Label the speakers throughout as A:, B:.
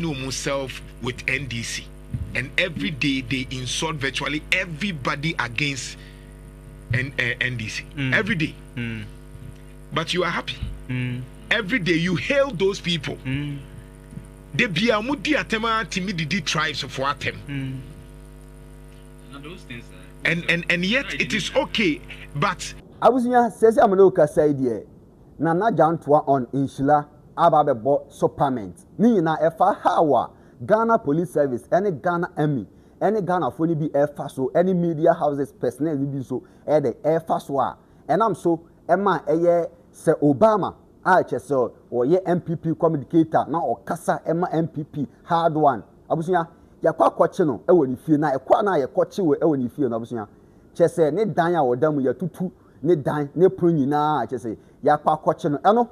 A: ne ɔmu self with NDC and everyday they insult virtually everybody against N, uh, eh, NDC mm. everyday mm. but you are happy mm. everyday you hail those people mm. de bia ɔmu di atɛm a timi didi tribes for atɛm mm. those things
B: are and and and yet
A: it is okay but. abusua sɛ sɛ
C: amena okasa yi deɛ na na Gyantoa on nhyira aba abɛbɔ sopament. Ne nyinaa ɛfa haw a Ghana Police Service ɛne Ghana Army ɛne Ghanafoɔ no bi ɛfa so ɛne media houses personnel no bi nso ɛɛdɛ ɛɛfa so a ɛnam so ɛma ɛyɛ Sɛ Obama a kyɛ sɛ ɔyɛ NPP communicator na ɔkasa ɛma NPP hard one abusua yɛkɔ akɔkye no ɛwɔ ne fie na ɛkɔ a na yɛkɔkye wɔ ɛwɔ ne fie no abusua kyɛ sɛ ne dan a ɔda mu yɛtutu ne dan ne pono nyinaa a kyerɛ sɛ yɛakɔ akɔkye no ɛno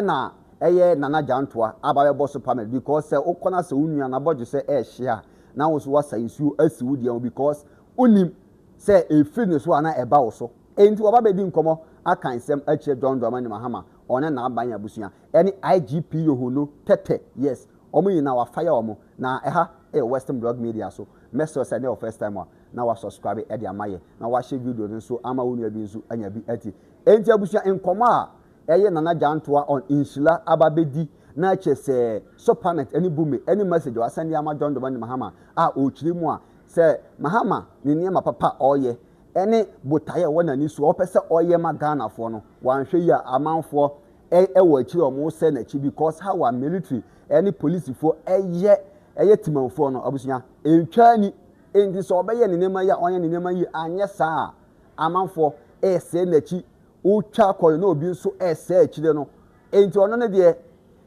C: na ɛyɛ Nana Gyantoa aba bɛbɔ so pamela because sɛ wokɔ na sɛ wo nua n'abɔdwesɛ ɛɛhye a na wo nso woasa nsuo asi wo deɛ ho because wonim sɛ ɛfiri ne so a na ɛba wo so enti waba bɛdi nkɔmmɔ aka nsɛm akyerɛ John Dramani Mahama ɔne n'aban abusua ɛne IGP Yohono Tɛtɛ yes wɔn nyinaa wafa yɛ wɔn na ɛha ɛyɛ Western Blog Media so mɛsrɛ sɛ ɛnyɛ wɔ first time a na wa subscribe ɛde ama yɛ na wa share video no nso ama wo nua bi nso anya bi ɛti ɛnti abusua nkɔmɔ a ɛyɛ nana gyantoa on nhyila aba bɛdi na ɛkyɛ sɛ sopanet ɛne bume ɛne message a wasɛnde ama john domani mahama a ɔkyerɛ mu a sɛ mahama ne nneɛma papa a ɔyɛ ɛne botaeɛ ɛwɔ n'ani so a ɔpɛ sɛ ɔyɛ ma ghanafoɔ no wanhwɛ yi a amanfoɔ ɛwɔ akyiri a wɔn sɛ n'akyi because how a military ɛne polisifoɔ ɛyɛ ɛyɛ timanfoɔ no abusua ɛntwa ni Enti sɛ ɔbɛyɛ ne nneɛma yie a, ɔnyɛ ne nneɛma yie, anyɛ saa a, amanfoɔ resɛe n'akyi, wotwa kɔ no na obi nso resɛe akyire no. Enti ɔno ne deɛ,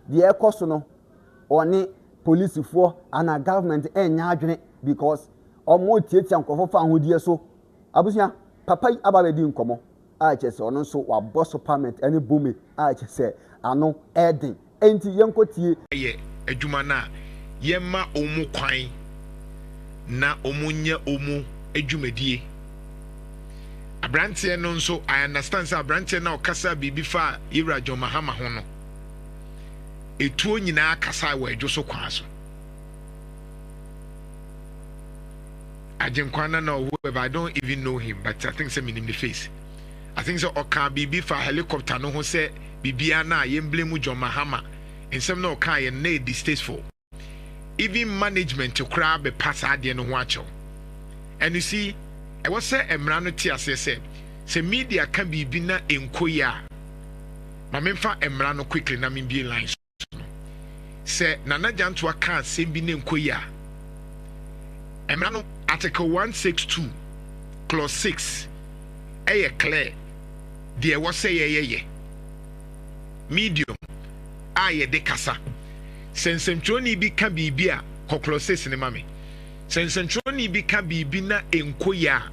C: deɛ ɛkɔ so no, ɔne polisifoɔ anaa government nyɛ adwene because wɔretiatia nkurɔfoɔ fa ahodeɛ so. Abusua, papa yi aba abɛdi nkɔmmɔ. a kyerɛ sɛ ɔno nso wabɔ so parment ne bome a kyerɛ sɛ ano ɛden enti yɛnkɔ tie. yɛ adwuma
A: no a yɛmma wɔn kwan na wɔn nyɛ wɔn adwumadie. Abranteɛ no nso I understand sɛ abranteɛ no a ɔkasaa biribi faa Yɛwura John Mahama ho no etuo nyinaa kasae wɔ ɛdwo so kwan so. Agyenkwa no na ɔwɔ ɛbɛ I don't even know him but I think sɛ menim ne face I think sɛ ɔkaa biribi faa helicopter no ho sɛ biribiara no a yɛnblame John Mahama nsɛm no a ɔkaeɛ no na ɛyɛ distasteful even management koraa bɛpa saa adeɛ no ho akyɛw and you see ɛwɔ sɛ mmara no te aseɛ sɛ sɛ media ka biribi na ɛnkɔ yie a ma memfa mmara no quickly na membue line so. Sɛ Nana Gyantoa ka asɛm bi na ɛnkɔ yie a, Mmara no Article one six two, Clause six yɛ clear, Deɛ ɛwɔ sɛ yɛyɛ yɛ medium a yɛde kasa. Sɛ nsɛntwerɛni bi ka biribi a, kɔ Clause six no ma me. Sɛ nsɛntwerɛni bi ka biribi na ɛnkɔ yie a,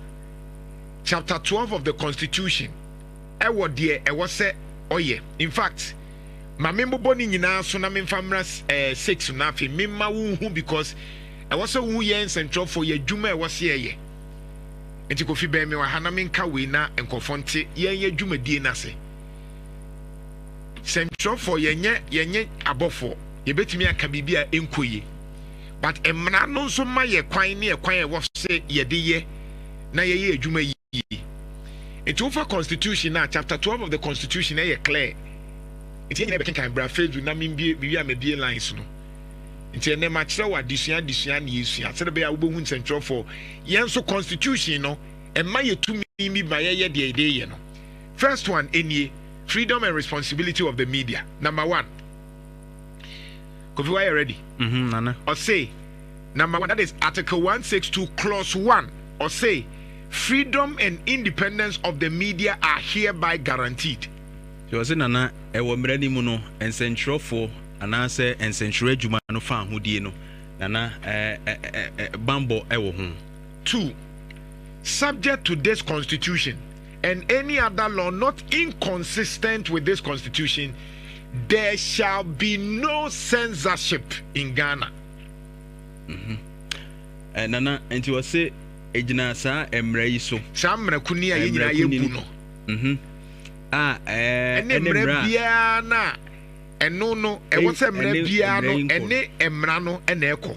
A: Chapter twelve of the Constitution wɔ deɛ ɛwɔ sɛ ɔyɛ. In fact, ma me mbobɔ ne nyinaa so na me nfa mmra eh, six no afei me mma wo nhu because ɛwɔ sɛ wo yɛ nsɛntrɔfoɔ yɛ adwuma ɛwɔ sɛ yɛyɛ nti kofi bɛn me wɔ ha na me nka wei na nkɔfoɔ nte yɛn yɛ dwumadie no ase sɛntrɔfoɔ yɛnyɛ yɛnyɛ abɔfoɔ yɛbɛtumi aka biribi a ɛnkɔ yie but mmara no nso ma yɛ kwan ne ɛkwan a ɛwɔ sɛ yɛde yɛ na yɛyɛ adwuma yie yiye. Nti wofa constitution no a chapter twelve of the constitution ɛyɛ clear. Nti yɛn nyinaa yɛbɛkenkan bra facebook na membue mewie a mabue lines no. Nti ɛnɛ makyerɛ wo adesua adesua ne yɛsua sɛdeɛ ɛbɛyɛ a wobɛhu nsɛntwerɛfoɔ. Yɛn nso constitution no ɛma yɛ tumi bi ma yɛyɛ deɛ yɛde yɛ no. First one ɛnie, freedom and responsibility of the media, number one. Kofi wayɛ ready mhm nana. Ɔse number one that is article one six two clause one ɔse freedom and independence of the media are hereby guaranteed. Nti ɔse nana
B: ɛwɔ mmara no mu no nsɛntwerɛfoɔ anaasɛ nsɛntwerɛ adwuma no faahodie no nana ɛɛ bammɔ ɛwɔ ho. Two,
A: subject to this constitution. and any other law not inconsistent with this constitution, there shall be no censorship in Ghana. Mm -hmm.
B: uh, Nana, nti wɔ se egyina saa mmara yi so. Saa mmara kunni a yɛn
A: nyinaa yɛbu no. Mhm. A
B: ɛne
A: mmara biara no a ɛno no ɛwɔ sɛ mmara biara no ɛne mmara no ɛna ɛkɔ.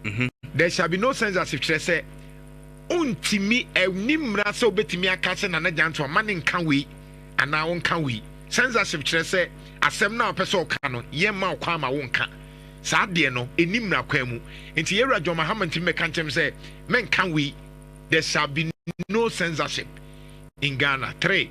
A: Mhm. There shall be no censorship kyerɛ sɛ Ontumi nni mmara sɛ obetumi aka sɛ Nana Gyanto mma no nka wei anaa ɔnka wei. Censorship kyerɛ sɛ asɛm no a ɔpɛ sɛ ɔka no, yɛmma wo kwan ma wonka. Saa adeɛ no, ɛnni mmara kwan mu. Enti yɛn Wura John Mahama ntumi bɛka nkyerɛ me sɛ mɛnka wei. There shall be no censorship in Ghana. Three.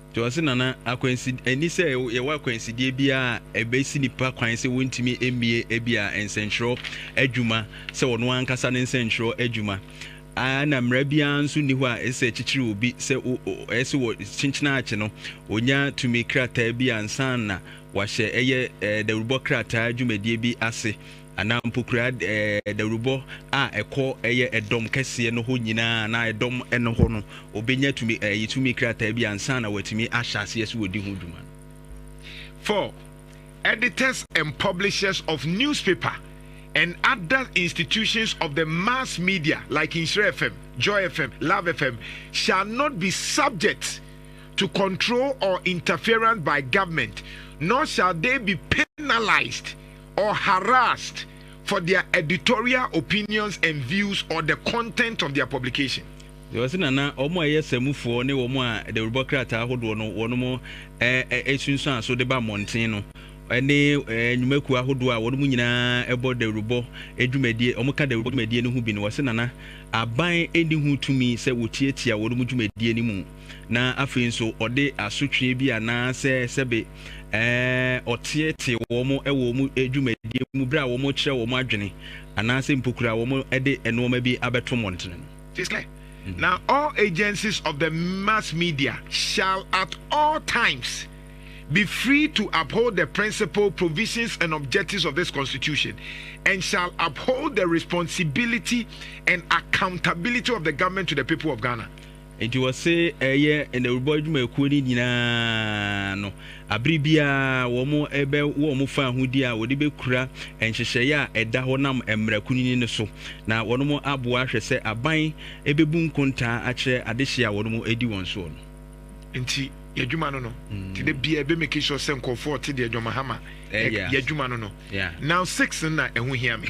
A: Te ase Nana,
B: akwansi ɛnni sɛ yɛwɔ akwansideɛ biara a ɛbɛsi nnipa kwan sɛ wɔntumi mmie ebia nsɛntwerɛ adwuma sɛ ɔno ankasa ne nsɛntwerɛ adwuma a ɛna mmara biara nso nni hɔ a ɛsɛ sɛ ɛkyekyere obi sɛ o o ɛyɛ sɛ wɔ kyenkyenaakye no ɔnya tumi krataa bi ansa na wahyɛ ɛyɛ ɛɛ dawurubɔ krataa dwumadie bi ase anaa mpo kura dawurubɔ a ɛkɔ ɛyɛ ɛdɔm kɛseɛ no hɔ nyinaa anaa ɛdɔm no hɔ no, ɔbɛnya tumi ɛyɛ tumi krataa bi ansa na watumi ahyɛ aseɛ sɛ wɔdi ho dwuma. For
A: editors and publishers of newspaper and other institutions of the mass media like Nhyira FM, Joy FM, Love FM shall not be subject to control or interference by government, nor shall they be penalized or harassed for their editorial opinions and views or the content of their publication. Deɛ ɔse na na
B: wɔn a ɛyɛ samufoɔ ne wɔn a dawurubɔ krataa ahodoɔ no wɔnom ɛ sunsuan so de ba mmɔnten no ne ɛ nnwumakuo ahodoɔ a wɔnom nyinaa ɛbɔ dawurubɔ dwumadie wɔn ka dawurubɔ dwumadie no ho bi no ɔse na na aban ɛnni ho tumi sɛ wɔtiatia wɔnom dwumadie no mu na afei nso ɔde asotweɛ bi anaasɛ sɛbe ɔteetee wɔn wɔ wɔn dwumadie mu berɛ a wɔkyerɛ wɔn adwene anaasɛ mpokura wɔde nnoɔma bi abɛto mmɔntene no. It is clear. Mm.
A: Now all agencies of the mass media shall at all times be free to uphold the principle, provisions, and objectives of this Constitution, and shall uphold the responsibility and accountability of the government to the people of Ghana. Enti wɔse
B: ɛyɛ nnawurubɔ adwumayɛkuo no nyinaa no abere biara wɔn bɛ wɔ wɔn faahodi a wɔde bɛkura nhyehyɛeɛ a ɛda hɔ nam mmara kunini no so na wɔn aboa ahwɛ sɛ aban bɛbu nkontaa akyerɛ adehyeɛ a wɔn di wɔn soɔ no. Enti
A: y'adwuma no no te da biara ɛbɛ make sure sɛ nkurɔfoɔ ɔte deɛ John Mahama yɛ adwuma no no. Now six no na ɛho hia me.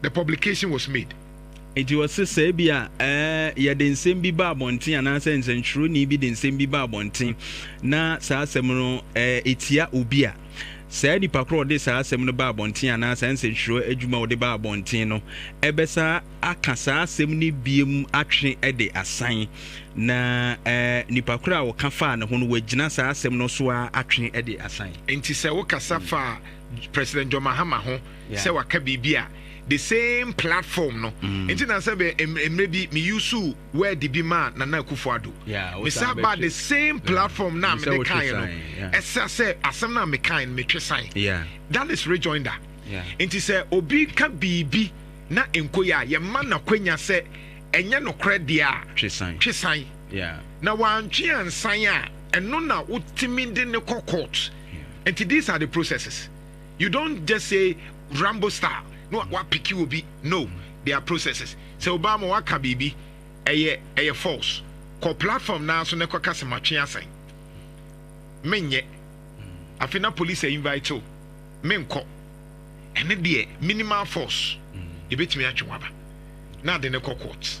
A: the publication was made. Enti wɔse
B: sɛ ebia ɛɛ yɛde nsɛm bi ba abɔnten anaasɛ nsɛntwerɛni bi de nsɛm bi ba abɔnten na saa asɛm no ɛɛ etia obi a, saa nipa korɔ a ɔde saa asɛm no ba abɔnten anaa saa nsɛntwerɛ adwuma a ɔde ba abɔnten no ɛbɛsa aka saa asɛm no biem atwe de asan na ɛɛ nipa korɔ a ɔka faa ne ho no wagyina saa asɛm no so ara atwe de asan. Enti sɛ wokasa
A: faa President John Mahama ho sɛ waka biribi a the same platform no mm. nti na sɛ bɛ mmerɛ bi me yusu word bi maa Nana Akufo Addo mesa ba the same platform na mede kaeɛ no ɛsɛ sɛ asɛm no a mekae no metwe san that is rejoinder nti sɛ obi ka biribi na nko yɛ a yɛma n'akwanya sɛ ɛnyɛ nokorɛ deɛ a twe san na wantwe ansan a ɛno na wotumi de ne kɔ court nti these are the processes You don't just say Rambo style na wapeke obi no there are processes sɛ obaa ma waka biribi ɛyɛ ɛyɛ false kɔ platform naa so na ɛkɔka sɛ matwe asɛn menyɛ afei na police a invite o menkɔ ɛne deɛ minimal force yɛbɛtumi atwe waba na ade ne kɔ court.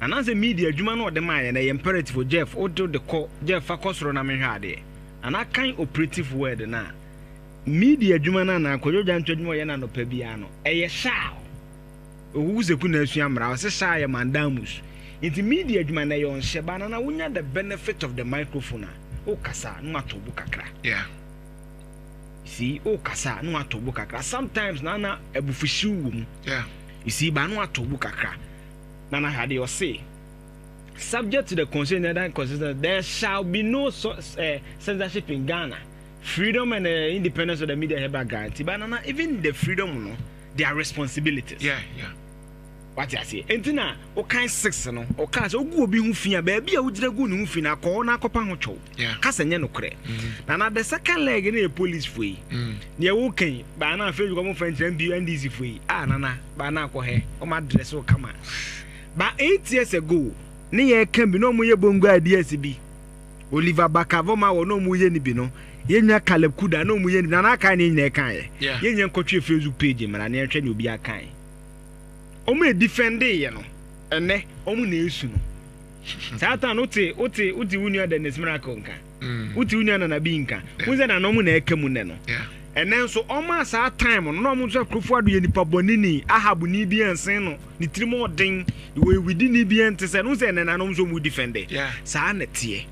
D: Anaasɛ media adwuma no ɔde maa yɛn no ɛyɛ imperative o Jeff wo de de kɔ Jeff fa kɔ soro na menhwɛ adeɛ anaa kan operative word no a media adwuma no anaa Kojo Gyanto adwuma ɔyɛ no anɔpa biara no ɛyɛ shall Ohuhu Seku na asua mmara ɔse shall yɛ mandamus nti media adwuma no ɛyɛ ɔnhyɛ ba na na wonya the benefit of the microphone a wo kasa na watɔ bo kakra yeah you see wo kasa na watɔ bo kakra sometimes na na abufuhyew wɔ mu yeah you see
A: ba na
D: watɔ bo kakra Nana Hardie ɔse, Subject to the constitution and other constitutions, there shall be no so, uh, censorship in Ghana. Freedom and uh, independence of the media hereby guaranteed. But Nana, even the freedom, no, there are responsibilities. Yeah, yeah.
A: wate
D: aseɛ ɛnti na wokan six no ɔkaa sɛ wogu obi ho fi a baabi a wogyina gu ne ho fi no akɔ hɔ no akɔpa ho twɛw kasa nyɛ nokorɛ na na the second leg no yɛ police fo yi deɛ woka yi baa na afei dwekɔ mofa nkyerɛ mpi ndc fo yi a nana baa na akɔ hɛ ɔma adrɛse wo kama ba eight years ago ne yɛ ka bi na ɔmo yɛ bongo ideas bi Oliver Bakavo ma wɔ na ɔmo yɛ ne bi no yɛnwa Caleb Kuda na ɔmo yɛ ne bi na na aka ne nyina ɛka yɛ yɛnyɛ nkɔtwe Facebook page mmara ne yɛnhwɛ ne obi aka ɔmo ɛdifɛnde yɛ no ɛnɛ ɔmo na ɛsu no saa ta no te wote wote wo nua Dennis Miracle nka mm. wote wo nua Nana bi nka wohu sɛ nana ɔmo na ɛka mu nnɛ no ɛnɛ nso ɔmo a saa time no na ɔmo nso akurofo ado yɛ nipa bɔne ni ahab ni bi ɛnsen no ne tirim ɔden wɔwidi ni bi ɛnte sɛ no sɛ ɛnɛ na ɔmo nso ɔmo di fɛnde saa na teɛ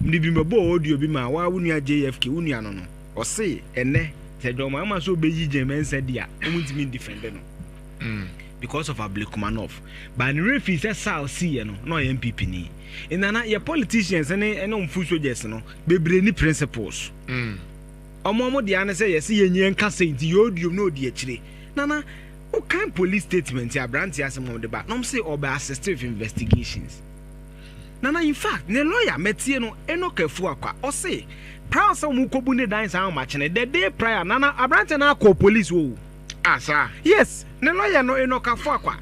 D: mede bi mɛbɔ audio bi ma wa wo nua jfk wo nua no no ɔse ɛnɛ sɛ dwɔma ama sɛ ɔbɛyi gyɛmɛnsa di a ɔmo ntumi di fɛnde no mm. because of Ablekumanov but ne werɛ fii sɛ Saal siiɛ no na ɔyɛ NPP ni Nana yɛ politicians ne ɛne ɔmo foot soldiers no bebree ni principles ɔmo ɔmo deɛ ano sɛ yɛse yɛnyi yɛnka sei nti yɛ odiom na odi akyire Nana wokan police statement yɛ aberanteɛ asɛm ɔmo de ba na ɔmo se ɔbɛ assist with investigations Nana in fact ne lawyer mɛtie no Enoch Afuakwa ɔse prior sɛ ɔmo kɔbu ne dan saa ɔmo akyene the day prior Nana aberanteɛ no akɔ police woo Ah saa.
A: Yes ne
D: lawyer no Enoch Afuakwa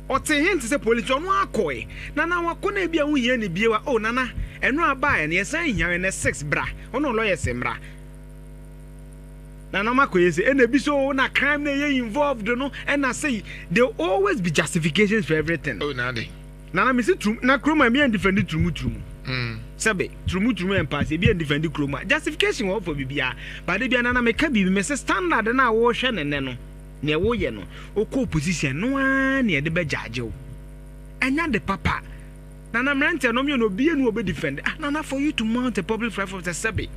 D: ɔtee hen te sɛ police nti ɔno ara kɔe Nana wakɔ na ebia wo hia ne bio a oh Nana ɛno a baeɛ no yɛsan hia wo ɛnɛ six bra ɔne lawyers mmra Nana ɔma kɔyɛ sei ɛna ebi so oh na crime na ɛyɛ involved no ɛna sei they always be justifications for everything. Oh na ade.
A: Nana mesi turum
D: na kuroma ebi ɛndifɛndi turumu turumu sɛbe turumu turumu ɛmpaase ebi ɛndifɛndi kuroma justification wɔ hɔ for bibiaa but da bia nana meka biribi mese standard no a wohwɛ no nnɛ no neɛ woyɛ no wokɔ opposition no aa neɛ yɛde bɛ judge wo ɛnyɛ ade papa nana mmeranteɛ no mmienu obia ni wɔ bɛ defend ah nana for you to mount a public platform sɛ sɛbe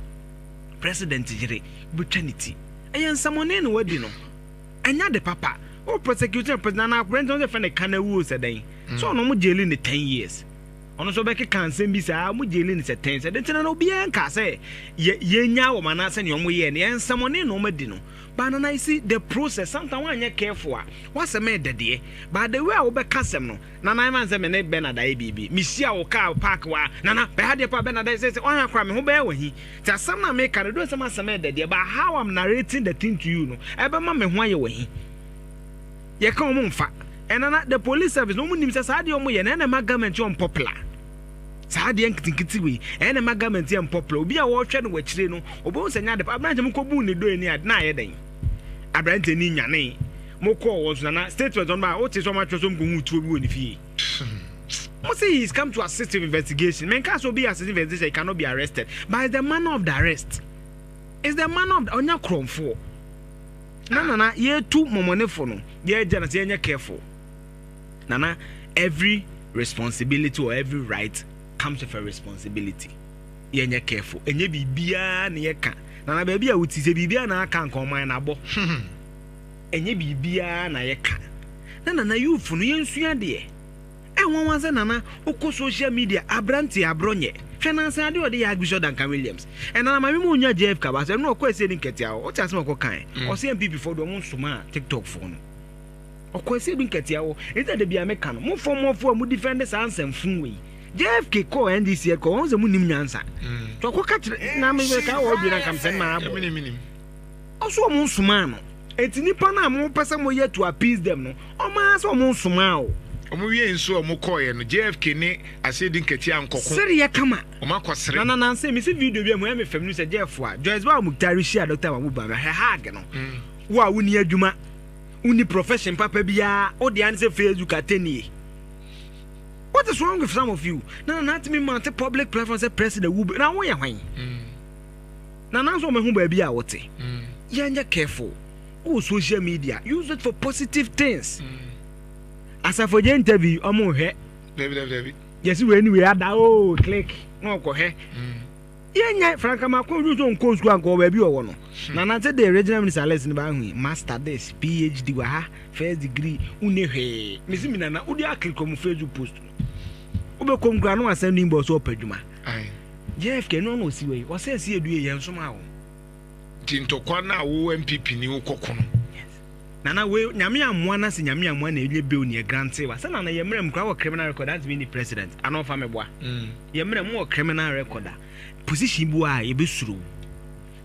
D: president yere wobɛtwa ne ti ɛyɛ nsɛmɔne na wadi no. Ɛnyɛ ade papa. Wo prosecute no president anaa akora nti na ɔsɛ fɛ ne ka na wuo sɛ dɛn. Sɛ ɔno ɔmo gyeli ne ten years. Ɔno nso ɔbɛkeka nsɛm bi saa ɔmo gyeli no sɛ ten sɛ dɛn nti na na obiara nkaa sɛ yɛ yɛnyaa wɔn anaa sɛ nea ɔmo yɛɛ no yɛ nsɛmɔne na ɔmo adi no. But nana you see the process sometimes wanyɛ careful a w'asɛm ɛɛdɛ deɛ but the way a wobɛka asɛm no Nana ɛma nsɛ me ne Bernard ayɛ biribi me hyia wo car park wa Nana bɛ ha deɛ paa Bernard ayɛ sɛsɛ ɔha kora me ho bɛyɛ wɔ he nti asɛm na me ka no do nsɛm asɛm ɛdɛ deɛ but how I'm narrating the thing to you no ɛbɛma me ho ayɛ wɔ he yɛ ka ɔmo mfa ɛnana the police service no ɔmo nim sɛ saa deɛ ɔmo yɛ na ɛna ɛma government yɛ unpopular saa deɛ nketenkete wei ɛna ɛma government yɛ unpopular obi a wɔhwɛ no wɔ akyire no obehu sɛ nyɛ ade pa abirante mo kɔ bu ne do ani a na ayɛ dɛn abirante ni nyanee. Mo kɔɔ wɔn so nana statement ɔno baa wote sɛ ɔmo atwerɛ so ɔmo kɔ hu tuo bi wɔ ne fie ɔmo sɛ he is come to assist with investigation me nka sɛ obi assist investigation he cannot be arrested but it's the manner of the arrest it's the manner of the ɔnya korɔmfoɔ na nana yɛtu mɔmɔnefo no yɛgya na sɛ yɛnyɛ careful nana every responsibility or every right comes with a responsibility yɛnyɛ careful ɛnyɛ biribiara na yɛka nana baabi a woti sɛ biribiara na aka nka ɔman na abɔ Ɛnyɛ biribiara na yɛka na nana youthfo no yɛnsua deɛ. Ɛnwanwa sɛ nana wokɔ social media abranteɛ abrɔ nyɛ hwɛ nansa adeɛ ɔde yɛ Archbishop Duncan Williams ɛna na maame ma ɔnya JF ka baasa ɛno ɔkɔ ɛsɛ ɛdi nkatia hɔ wote asɛm ɔkɔ kan ɔsɛ MPP foɔ deɛ ɔmo nsomaa TikTok foɔ no ɔkɔ ɛsɛ ɛdi nkatia hɔ ɛnti ɛde bia meka no mo fɔmɔfoɔ a mo defend saa nsɛmfun wei JFK kɔ NDC ɛkɔ wɔn sɛ mo nim nyansa tɔkɔ ka kyerɛ na meka wɔ ɔdwe na nka mesɛn maa bɔ Ɔso ɔmo nsomaa no. Enti nipa no a mo pɛ sɛ mo yɛ to appease them no, ɔmo ara sɛ ɔmo nsomaa o. Ɔmo wiee nso a ɔmo
A: kɔɔeɛ no, JFK ne Asedi Nketia ankɔko. Sereɛ kama. Ɔmo
D: akɔ sere. Nana
A: Nanse, me se video
D: bi a ɛmu yɛ me fɛ, me nim sɛ Jeff foa. Joyce Bawor Mukhtar rehyia Doctor Mahbub Bamia, hɛ hug no. Wo a wonni adwuma, wonni profession papa biara, wo dea ne sɛ Facebook atɛnnie. What is wrong with some of you? Nana Nanse me mounte public platform sɛ president wu bi, na wo yɛ hwan? Na nanso wɔn ho baabi a wɔte. Yɛnyɛ careful wɔ social media use it for positive things. Asafo gye interview wɔn hwɛ. Dabi dabi dabi.
A: Yɛsi wei ni wei
D: ada oo oh, click na ɔkɔ hwɛ. Yɛnyɛ franka ma kɔn ju so nkɔ sukuu ankɔ baabi ɔwɔ no. Na nanso de regional minister list ni ba ahu yi master this phd wɔ ha first degree wunni hwee. Mesi mi nana wodi aklikɔ mu facebook post. wobɛkɔ mu koraa na wasan ne inbox so ɔpɛ adwuma jfk ɛno ana ɔsi wei ɔsɛ si adue yɛn nso ma wo nti
A: ntɔkwa no a wo mpp ni wokɔko no nana
D: wei nyame amoa no sɛ nyame amoa na ɛnyɛ bill ne ɛgrante wa sɛ nana yɛ mmerɛ mu koraa wɔ criminal record ante me ni president ana ɔfa me boa mm. yɛ mmerɛ mu wɔ criminal record a position bi a yɛbɛsuro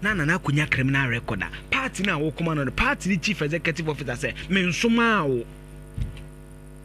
D: na nana akɔnya criminal record a party no a wokoma no no party no chief executive officer sɛ mensomaa wo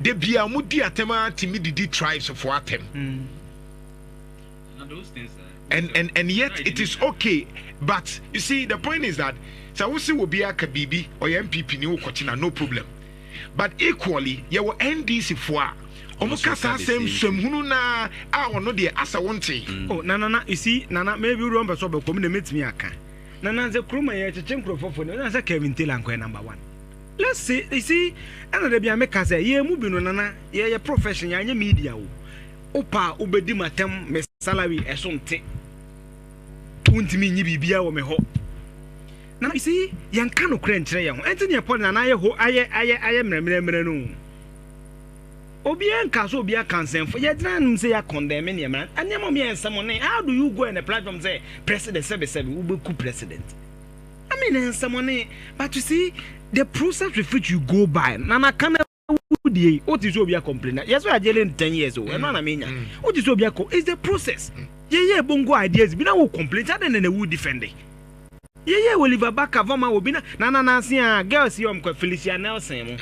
A: Da biara ɔmo di atɛm ara tumi didi tribes fo atɛm. And, and, and yet it is okay but you see the point is that sɛ wo se wɔ bi aka biribi ɔyɛ npp ni wokɔkye na no problem but equally yɛwɔ ndc fo a ɔmo ka saa sɛ nsɛmhunu naa a ɔno deɛ asɛ wo nte. Mm. Oh, na nana, you see,
D: nana, maybe wode ɔmpɛ sɛ ɔbɛkɔ mu na mɛtumi aka. Nana sɛ kurom a yɛkyekye nkurɔfoɔ fo no, ɛna sɛ Kevin Taylor nkɔyɛ number one. Let's say, you see, ɛna dabi a me ka sɛ, yɛn mu bi no nana, yɛ yɛ profession, yɛanyɛ media o, wo pɛ a wo bɛ di ma tɛm, me salary ɛso nte, to wo ntumi nyi biribiara wɔ me hɔ, na you see, yɛn ka no korɛ nkyerɛ yɛn ho, ɛnti neɛ pɔli nana ayɛ ho, ayɛ, ayɛ, ayɛ mmerɛmmerɛmmerɛ no o, obiara nka sɛ obiara ka nsɛmfo, yɛ gyina anom sɛ yɛ condemn neɛ mmerɛ, nneɛma ɔmo yɛ nsɛm ne, how do you go and a platform sɛ president sɛbesɛbe, wo bɛ ku president. I mean nsɛmɔne but you see the process with which you go by na na kan awudie yi o ti sɛ obi akɔmplena yɛ sɛ ɔyɛ agye ne ten years o ɛno ana menya o ti sɛ obi akɔ it's the process yɛyɛ bongo ideas bi na wo complain sɛ adɛn na na wu defende yɛyɛ Oliver Baka vɔma wɔ bi na na na nanse a girls yi ɔmkɔ Felicia Nelson mu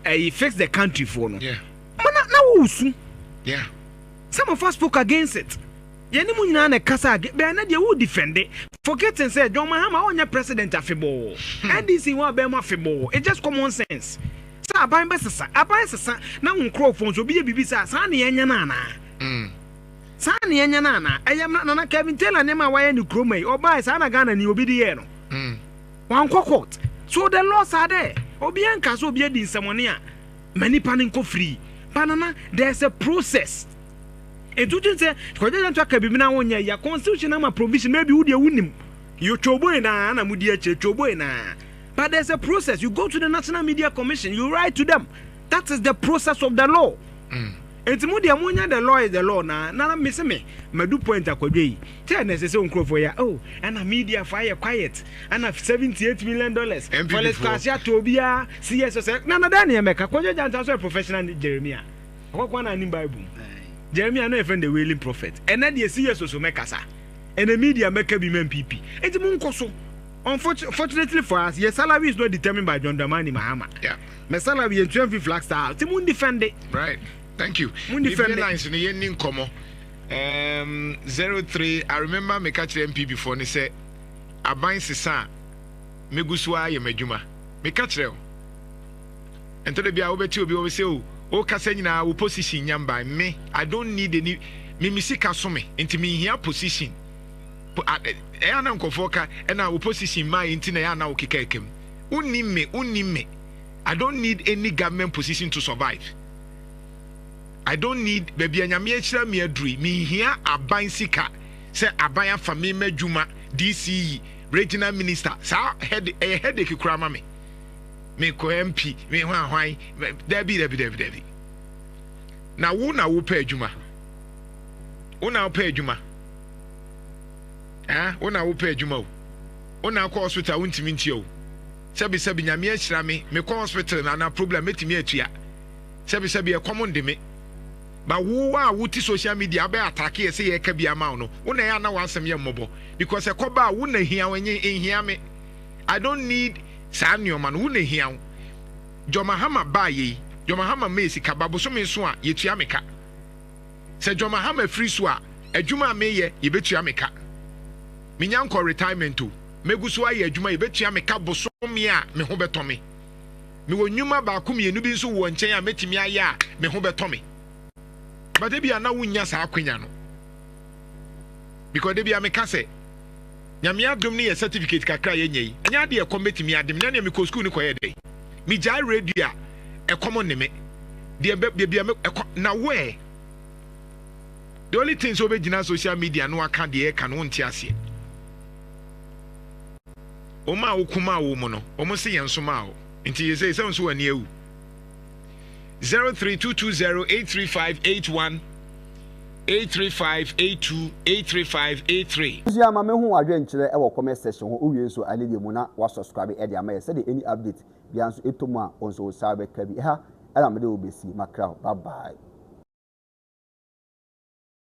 D: ɛyi fix the country foɔ no ma na na
A: wosu
D: some of us spoke against it Yɛne mo nyinaa na ɛkasa a bɛɛ na deɛ wo defende forgetting sɛ John Mahama ɔnyɛ president afebɔɔ NDC wɔ abɛn mu afebɔɔ it's just common sense sɛ aban bɛsesa aban sesa na wo nkorɔfoɔ nso obi yɛ biribi saa saa na yɛnyɛ no anaa saa na yɛnyɛ no anaa ɛyɛ mmra Nana Kevin Taylor nneɛma a wayɛ ne kurom yi ɔbae saa na Ghana ni obi de yɛɛ no wankɔ court so the laws are there obi anka sɛ obi adi nsɛmɔne a ma nipa no nkɔ free ba Nana there's a process Etu kyin sɛ kɔgye yɛn to aka biribi na wonyɛ ya. Constitution ama provision maybe wo deɛ wonim. You choboe naa na mudi akyire choboe naa. But there's a process you go to the National Media Commission you write to them that is the process of the law. Mm. Enti mo deɛ monya the law is the law na na me se me madu point akwadwe yi sɛ na ɛsɛ sɛ nkurɔfoɔ yɛ oh ɛna media fo ayɛ quiet ɛna 78 million dollars police kwase atɔ obiara si yɛ sɛ sɛ na na dɛn ne yɛmɛka kwadwe gya nsa so yɛ professional Jeremia Hɔ koraa na anim Bible mu. Jeremiah na yɛfrɛ no the wailing prophet. Ɛnɛ deɛ si yɛ soso mɛkasa. Ɛnɛ media mɛka bi ma NPP. Enti mo nkɔ so. Unfortunately for us, yɛ salary is not determined by John Dramani Mahama. Yeah. Mɛ salary yɛn tua mfi flag star. Ti mo defend. Right. Thank you.
A: Mo defend. Bibi lines no yɛn ni nkɔmɔ. Um, zero three. I remember me catch NPP for ne sɛ aban sesa. Megusu ayɛ m'adwuma. Me catch o. Ɛntɔ da bi a wobɛte obi wɔ sɛ o wo kasa nyinaa wo position nya mbae me I don't need any me me sika so me nti me nhia position ɛyɛ na nkɔfoɔ ka ɛna wo position maa yɛ nti na ɛyɛ na wo keka ɛkam wonni me wonni me I don't need any government position to survive I don't need baabi a nyame ahyira me adurui me nhia aban sika sɛ aban afa me ma adwuma DC yi regional minister saa head ɛyɛ headache kura ma me me kɔ MP me hwan hwan dabi dabi dabi dabi na wo na wopɛ adwuma wo na wopɛ adwuma eh wo na wopɛ adwuma o wo na akɔ hospital wo ntumi ntia o sɛbi sɛbi nyame ahyira me mekɔ hospital na na problem metumi atua sɛbi sɛbi ɛkɔm nde me ba wo a wote social media abɛ atake ɛsɛ yɛ ka bi ama wo no wo na yɛ ana wasɛm yɛ mmɔbɔ because ɛkɔba a wo na hia wo enye nhia me I don't need saa nnoɔma no, wo na ɛhia wo. John Mahama baa yei, John Mahama maa yɛ sika, ba bosome nso a, yɛtua me ka. Sɛ John Mahama firi so a, adwuma a meyɛ, yɛbɛtua me ka. Menya nkɔ retirement o, mɛgu so ayɛ adwuma, yɛbɛtua me ka bosome a me ho bɛtɔ me. Mewɔ nnwuma baako mmienu bi nso wɔ nkyɛn a mɛtumi ayɛ a me ho bɛtɔ me. But ebia na wonnya saa akwanya no. Because da biara meka sɛ, Nyame adom ne yɛ certificate kakra a yɛanya yi, ɛnyɛ adeɛ a ɛkɔm bɛtumi ade me, na nea mekɔɔ sukuu no kɔyɛɛ dɛn? Megyae radio a, ɛkɔm nne me, deɛ bɛ, baabi a me, ɛkɔ, na wo ɛ? The only thing sɛ wobɛgyina social media na waka deɛ ɛreka no, wonte aseɛ. Wɔn a wokumaa wo mu no, wɔn se yɛn somaa wo, nti seesei sɛ wo nso w'ani awu, zero three two two zero eight three five eight one eight three five eight two eight three five eight three. Abusua ma me ho
C: adwenkyerɛ ɛwɔ comment section hɔ wowie nso a leave mu na wa subscribe ɛde ama yɛ sɛdeɛ any update biara nso ɛtɔ mu a wo nso wo saa bɛka bi ɛha ɛna mede wo bɛsi makra bye bye.